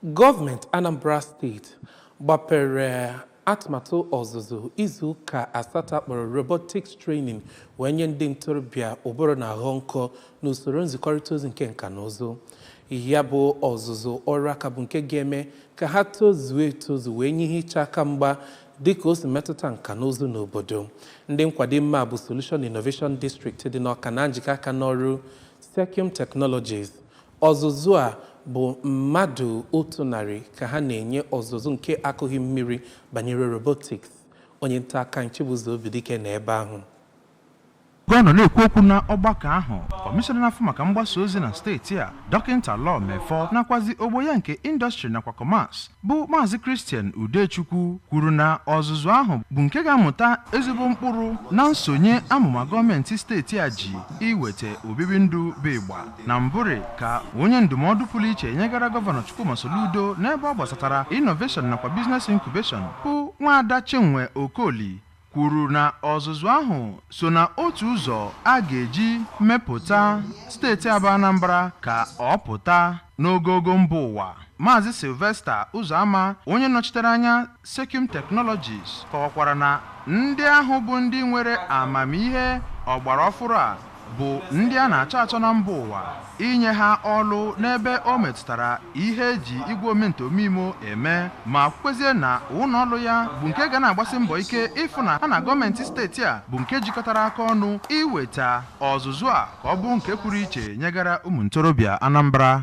Gọọmenti Anambra steeti gbapere atụmatụ ọzụzụ izu ụka asatọ akpọrọ robotics training wee nye ndị ntorobịa ụbụrụ na-aghọ nkọ n'usoro nzikọrịta ozi nke nka na ụzụ ya bụ ọzụzụ ọrụ aka bụ nke ga-eme ka ha tozuo etozu wee nye ihe iche aka mgba dịka o si metụta nka na ụzụ n'obodo ndị nkwado mmemme a bụ Solution Innovation District dị n'Ọka na njikọ aka n'ọrụ Circum Technologies Ọzụzụ a bụ mmadụ otu narị ka ha na-enye ọzụzụ nke akụghị mmiri banyere robotics. Onye nta akụkọ anyị Chibuzo Obidike nọ ebe ahụ. Oge ọ nọ na-ekwu okwu na ọgbakọ ahụ, kọmishọna na-afụ maka mgbasa ozi na steeti a, Dọkịnta Law Mefor nakwazi ogbo ya nke Industry nakwa Commerce, bụ Maazị Christian Udechukwu kwuru na ọzụzụ ahụ bụ nke ga-amụta ezigbo mkpụrụ na nsonye amụma gọọmenti steeti a ji iweta obibi ndụ bụ ịgba na mbụrị ka onye ndụmọdụ pụrụ iche nyegara gọvanọ Chukwuma Soludo n'ebe ọ gbasatara innovation nakwa business incubation bụ nwaada Chinwe Okoli kwuru na ọzụzụ ahụ so na otu ụzọ a ga-eji mepụta steeti a bụ Anambra ka ọ pụta n'ogogo mba ụwa Maazị Sylvester Ụzọama onye nọchitere anya Circum Technologies kọwakwara na ndị ahụ bụ ndị nwere amamihe ọgbara ọfụrụ a bụ ndị a na-achọ achọ na mba ụwa inye ha ọlụ n'ebe o metụtara ihe eji igwe omenta omeimo eme ma kwezie na ụlọ ọlụ ya bụ nke ga na-agbasi mbọ ike ịfụ na ha na gọọmenti steeti a bụ nke jikọtara aka ọnụ iweta ọzụzụ a ka ọ bụrụ nke pụrụ iche nyegara ụmụ ntorobịa Anambra